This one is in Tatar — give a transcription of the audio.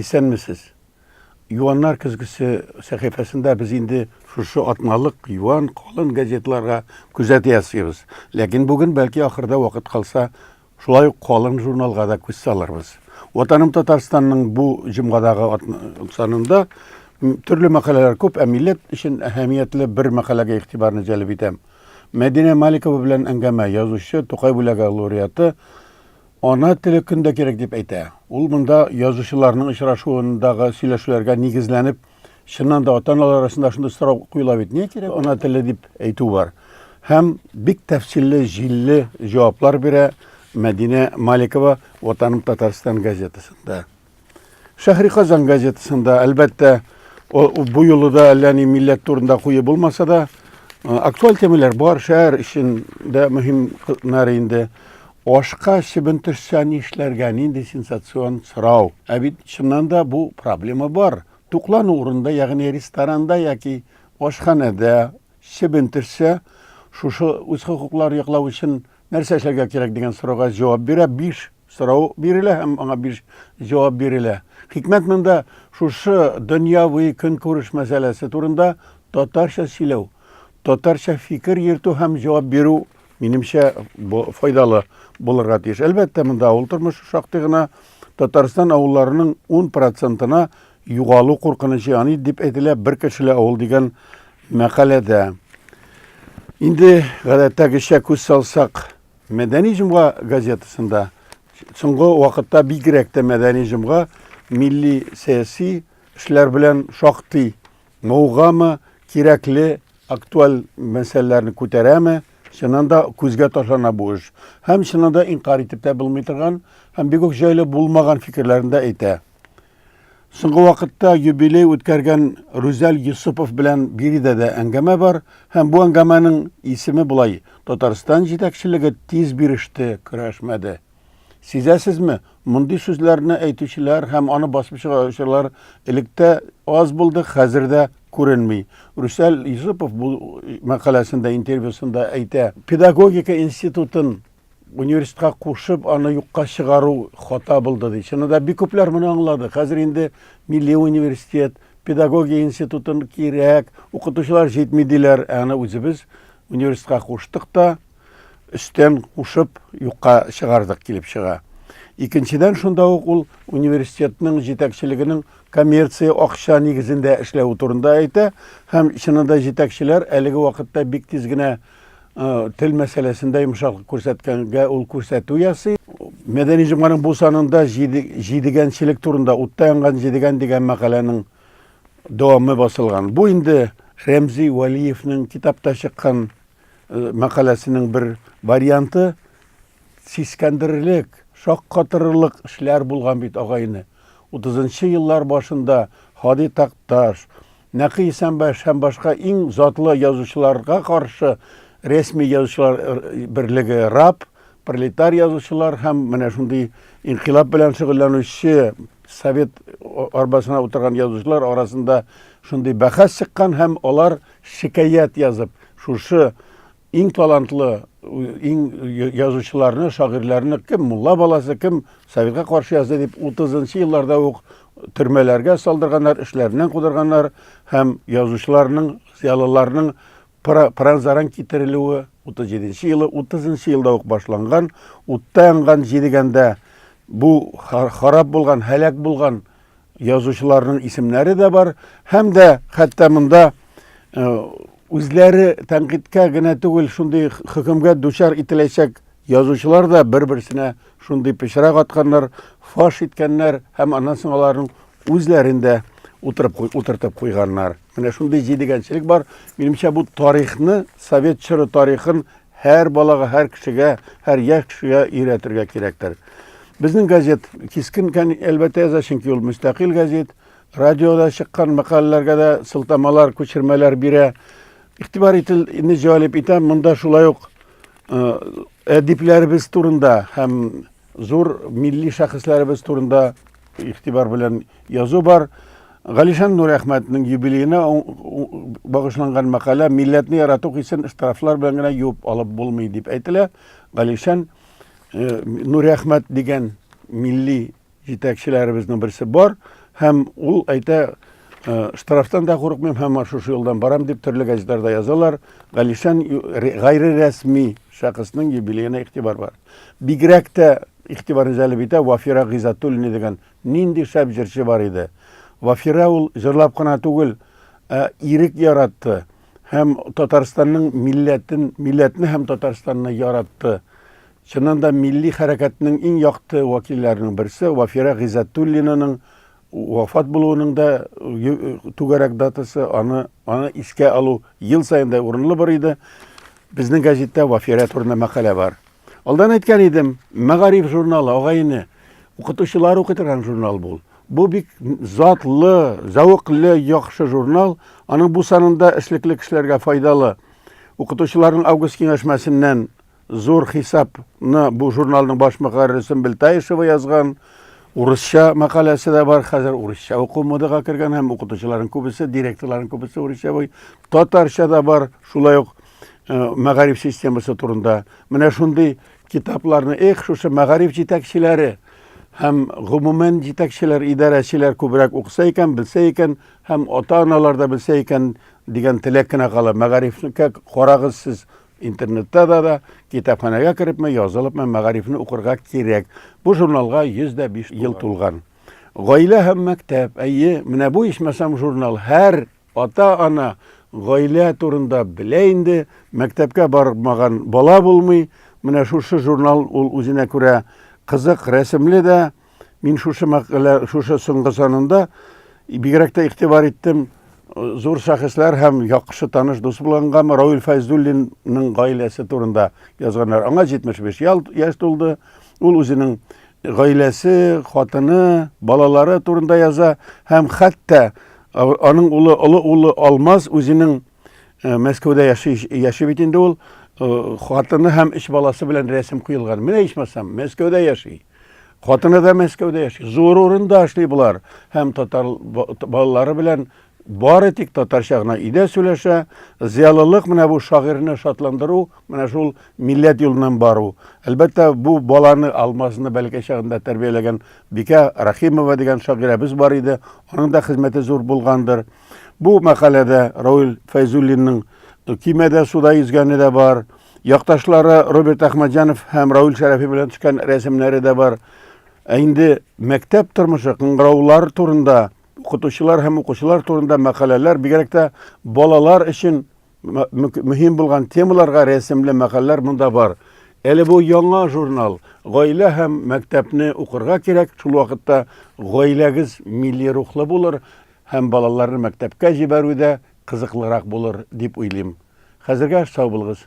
Исәнмесез! Юаннар көзгесе сәхифәсендә без инде шушы атналык юан, калын газеталарга күзәтү ясыйбыз. Ләкин бүген, бәлки, ахырда вакыт калса, шулай ук калын журналга да күз салырбыз. Ватаным Татарстанның бу җомгадагы санында төрле мәкаләләр күп, ә милләт өчен әһәмиятле бер мәкаләгә игътибарны җәлеп итәм. Мәдинә Маликова белән әңгәмә, язучы, Тукай бүләге лауреаты Ана теле көн дә кирәк дип әйтә. Ул монда язучыларның очрашуындагы сөйләшүләргә нигезләнеп, чыннан да ата-аналар арасында шундый сорау куела бит, нигә кирәк ана теле дип әйтү бар. Һәм бик тәфсилле, җилле җаваплар бирә Мәдинә Маликова Ватаным Татарстан газетасында. Шәһри Казан газетасында, әлбәттә, бу юлы да әллә ни милләт турында куе булмаса да, актуаль темалар бар, шәһәр өчен дә мөһим кызлар инде. Ашка чебен төшсә ни эшләргә, нинди сенсацион сорау. Ә бит чыннан да бу проблема бар. Туклану урында, ягъни ресторанда яки ашханәдә чебен төшсә, шушы үз хокукларын яклау өчен нәрсә эшләргә кирәк дигән сорауга җавап бирә биш Сорау бирелә һәм аңа биш җавап бирелә. Хикмәт монда шушы дөньяви көнкүреш мәсьәләсе турында татарча сөйләү, татарча фикер йөртү һәм җавап бирү, минемчә, файдалы булырга тиеш. Әлбәттә, монда авыл тормышы шактый гына Татарстан авылларының 10 процентына югалу куркынычы яный дип әйтелә бер кешеле авыл дигән мәкаләдә. Инде гадәттәгечә күз салсак, Мәдәни җомга газетасында соңгы вакытта бигрәк тә мәдәни җомга милли сәяси эшләр белән шактый мавыгамы, кирәкле актуаль мәсьәләләрне күтәрәме, чыннан да күзгә ташлана бу эш. Һәм чыннан да инкарь итеп тә булмый торган, һәм бик үк җайлы булмаган фикерләрен дә әйтә. Соңгы вакытта юбилей үткәргән Рүзәл Йосыпов белән биредә дә әңгәмә бар, һәм бу әңгәмәнең исеме болай, Татарстан җитәкчелеге тиз биреште, көрәшмәде. Сизәсезме, мондый сүзләрне әйтүчеләр һәм аны басып чыгаручылар электә аз булды, хәзер дә күренми. Рүсәл Йосыпов бу мәкаләсендә, интервьюсында әйтә, педагогика институтын университетка кушып, аны юкка чыгару хата булды ди. Чынында бик күпләр моны аңлады. Хәзер инде милли университет, педагогия институтын кирәк, укытучылар җитми диләр. Ә аны үзебез университетка куштык та, өстән кушып юкка чыгардык килеп чыга. Икенчедән шунда ук ул университетның җитәкчелегенең коммерция акча нигезендә эшләве турында әйтә һәм чынында җитәкчеләр әлеге вакытта бик тиз генә Тел мәсьәләсендә йомшаклык күрсәткәнгә ул күрсәтү ясый. Мәдәни җомганың бу санында җидегәнчелек турында утта янган җидегән дигән мәкаләнең дәвамы басылган. Бу инде Рәмзи Вәлиевнең китапта чыккан мәкаләсенең бер варианты. Сискәндерерлек, шаккатырырлык эшләр булган бит, агайне. 30 нчы еллар башында Һади Такташ, Нәкый Исәнбаш һәм башка иң затлы язучыларга каршы рәсми язучылар берлеге, РАП, пролетар язучылар һәм менә шундый инкыйлаб белән шөгыльләнүче совет арбасына утырган язучылар арасында шундый бәхәс чыккан һәм алар шикаять язып, шушы Иң талантлы, иң язучыларны, шагыйрьләрне кем мулла баласы, кем советка каршы язды дип 30 елларда ук төрмәләргә салдырганнар, эшләреннән кудырганнар һәм язучыларның, зыялыларның пыранзаран китерелүе 37 елы, 30 елда ук башланган, утта янган, җидегәндә бу харап булган, һәлак булган язучыларның исемнәре дә бар һәм дә хәтта монда э, үзләре тәнкыйтькә генә түгел шундый хөкемгә дучар ителәчәк язучылар да бер берсенә шундый пычрак атканнар фаш иткәннәр һәм аннан соң аларның үзләрен дә утырып утыртып куйганнар менә шундый җидегәнчелек бар минемчә бу тарихны совет чоры тарихын Һәр балага, һәр кешегә, һәр яшь кешегә өйрәтергә кирәктер. Безнең газет кискен кән әлбәттә яза, чөнки ул мөстәкыйль газет. Радиода чыккан мәкаләләргә дә сылтамалар, күчермәләр бирә. Игътибар итүне җәлеп итәм, монда шулай ук әдипләребез турында һәм зур милли шәхесләребез турында Игътибар белән язу бар. Галишан Нурәхмәтнең юбилеена багышланган мәкалә милләтне ярату хисен штрафлар белән генә юып алып булмый дип әйтелә. Галишан э, Нурәхмәт дигән милли җитәкчеләребезнең берсе бар һәм ул әйтә э, штрафтан да курыкмыйм һәм шушы юлдан барам дип төрле газеталарда язалар. Галишан гайре рәсми шәхеснең юбилеена игътибар бар. Бигрәк тә Игътибарны җәлеп итә, Вафира Гыйззәтуллина дигән нинди шәп җырчы бар иде. Вафира ул җырлап кына түгел, ә ирек яратты һәм Татарстанның милләтен, милләтне һәм Татарстанны яратты. Чыннан да милли хәрәкәтнең иң якты вәкилләренең берсе Вафира Гыйззәтуллинаның вафат булуының да түгәрәк датасы, аны аны искә алу ел саен да урынлы бер иде. Безнең газетта Вафира турында мәкалә бар. Алдан әйткән идем, мәгариф журналы, агай-эне, укытучылар укый торган журнал бул. Бу бик затлы, зәвыклы, яхшы журнал. Аның бу санында эшлекле кешеләргә файдалы. Укытучыларның август киңәшмәсеннән зур хисапны бу журналның баш мөхәррире Сөмбел Таишева язган. Урысча мәкаләсе дә бар. Хәзер урысча уку модага кергән һәм укытучыларның күбесе, директорларның күбесе урысча буй. Татарча да бар. Шулай ук мәгариф системасы турында менә шундый китапларны эх шушы мәгариф җитәкчеләре һәм гомумән җитәкчеләр идарәчеләр күбрәк укыса икән белсә икән һәм ата аналар да белсә икән дигән теләк кенә кала мәгарифкә карагыз сез интернетта да да китапханәгә керепме язылыпмы мәгарифны укырга кирәк бу журналга йөз дә биш ел тулган гаилә һәм мәктәп әйе менә бу ичмасам журнал һәр Ата-ана гаилә турында белә инде, мәктәпкә бармаган бала булмый. Менә шушы журнал ул үзенә күрә кызык, рәсемле дә. Мин шушы мәкалә, шушы соңгы санында бигрәк тә игътибар иттем. Зур шәхесләр һәм яхшы таныш дус булгангамы Равил Фәйзуллинның гаиләсе турында язганнар. Аңа 75 ял, яшь тулды. Ул үзенең гаиләсе, хатыны, балалары турында яза һәм хәтта аның улы, олы улы Алмаз үзенең э, Мәскәүдә яши, яши бит инде ул, э, хатыны һәм өч баласы белән рәсем куелган. Менә ичмасам, Мәскәүдә яши. Хатыны да Мәскәүдә яши. Зур урында эшли болар һәм татар балалары белән Бары тик татарча гына өйдә сөйләшә. Зыялылык менә бу шагыйрьне шатландыру, менә шул милләт юлыннан бару. Әлбәттә, бу баланы, Алмазны бәләкәй чагында тәрбияләгән Бикә Рәхимова дигән шагыйрәбез бар иде, аның да хезмәте зур булгандыр. Бу мәкаләдә Рауль Фәйзуллинның көймәдә суда йөзгәне дә бар, якташлары Роберт Әхмәтҗанов һәм Рауль Шәрәфи белән төшкән рәсемнәре дә бар. Ә инде мәктәп тормышы, кыңгыраулар турында Укытучылар һәм укучылар турында мәкаләләр, бигрәк тә балалар өчен мөһим булган темаларга рәсемле мәкаләләр монда бар. Әле бу яңа журнал. Гаилә һәм мәктәпне укырга кирәк. Шул вакытта гаиләгез милли рухлы булыр һәм балаларны мәктәпкә җибәрү дә кызыклырак булыр дип уйлыйм. Хәзергә сау булыгыз.